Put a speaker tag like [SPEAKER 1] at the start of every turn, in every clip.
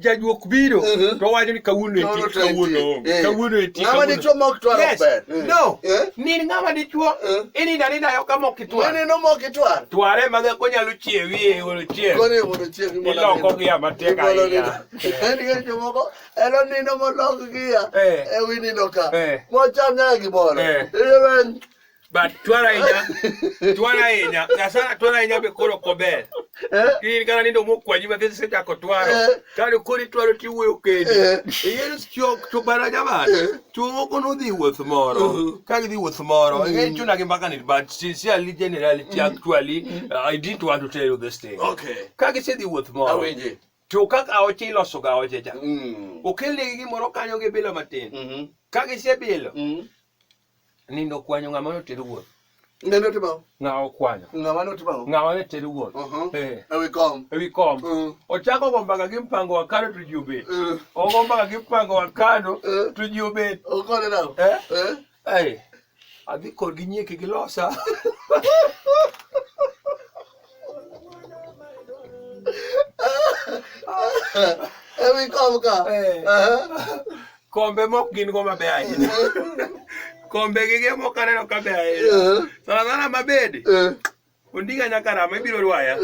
[SPEAKER 1] jajuok biro mhm. to wacho ni kawuono eti kawuono onge eh. kawuono eti ng'ama dichuo ma ok twar ok ber
[SPEAKER 2] eh. no eh. ni
[SPEAKER 1] ng'ama dichuo ininda ninda yo kama ok itwar ni no mok itwar
[SPEAKER 2] tware ma ko nyalo
[SPEAKER 1] chiewi e wolo chieng kone wolo chieng ni
[SPEAKER 2] lo ko gi ama
[SPEAKER 1] tek ahinya en ge jo moko
[SPEAKER 2] elo ni no mo lo gi ya e wi ni no ka mo cham nya gi bolo But
[SPEAKER 1] twara inya, twara inya, sasa twara inya be koro kober. Eh? Kiri kana nindo mo kwa jima kesi sita ko twaro. Eh? Kari kuri twaro ti wuyo kedi. Eh? Iyer sio chubara jama. Chuo kono di wuth moro. Uh-huh. Kagi di wuth moro. Mm. Iyer chuna kimbaka ni but sincerely generality mm. actually mm. uh, I didn't want to tell you this thing. Okay. Kagi si di
[SPEAKER 2] wuth
[SPEAKER 1] moro. Aweje. To kaka
[SPEAKER 2] aoche
[SPEAKER 1] iloso ga aoche ja. Okele gi moro kanyo gi bilo matin. Mm-hmm. Kagi si bilo. Mm-hmm. Nindo kwanyo ng'ama notero wuoth. Ng'ama notero wuoth.
[SPEAKER 2] Ng'ama okwanyo.
[SPEAKER 1] Ng'ama notero wuoth. Ng'ama
[SPEAKER 2] notero wuoth.
[SPEAKER 1] Uh-huh. Eh. Ewi kom.
[SPEAKER 2] Ewi kom. Uh-huh.
[SPEAKER 1] Ochako go mbaka gi mpango wa kano to ji obet. Uh-huh. Ogo mbaka gi mpango wa kano to ji obet. Okone na.
[SPEAKER 2] Eh? Eh? Eh. Adhi
[SPEAKER 1] kod gi nyieke gi losa.
[SPEAKER 2] Ewi kom ka. Eh. Kombe
[SPEAKER 1] mok gin go mabe ahinya. Kombe gi ge mok aneno kabe ahinya. Eh. Sana sana mabedi. Eh. Ondiga nyaka rama ibiro rwaya.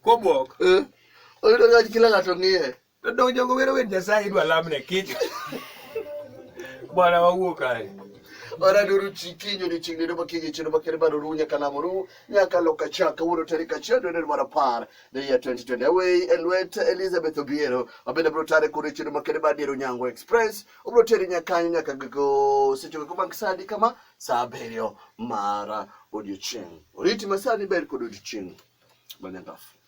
[SPEAKER 1] Kobwok. Oyudo
[SPEAKER 2] ng'ato kila ng'ato ng'iye. To donjo jogo wero
[SPEAKER 1] wer Nyasaye idwa lamne kich. Bwana wawuo kae. Ora duru
[SPEAKER 2] chikinyo ni chingni do makinyo chino makere baro ru nyaka lamo ru nyaka loka chaka wuro tari kachia do nero mara par the year 2020 away elwet Elizabeth Obiero abenda bro tare kuri chino makere badiro nyango express ubro tari nyaka nyaka go secho ko bank sadi kama saa abiriyo mara odiochieng oriti masani ber kod odiochieng banyagafu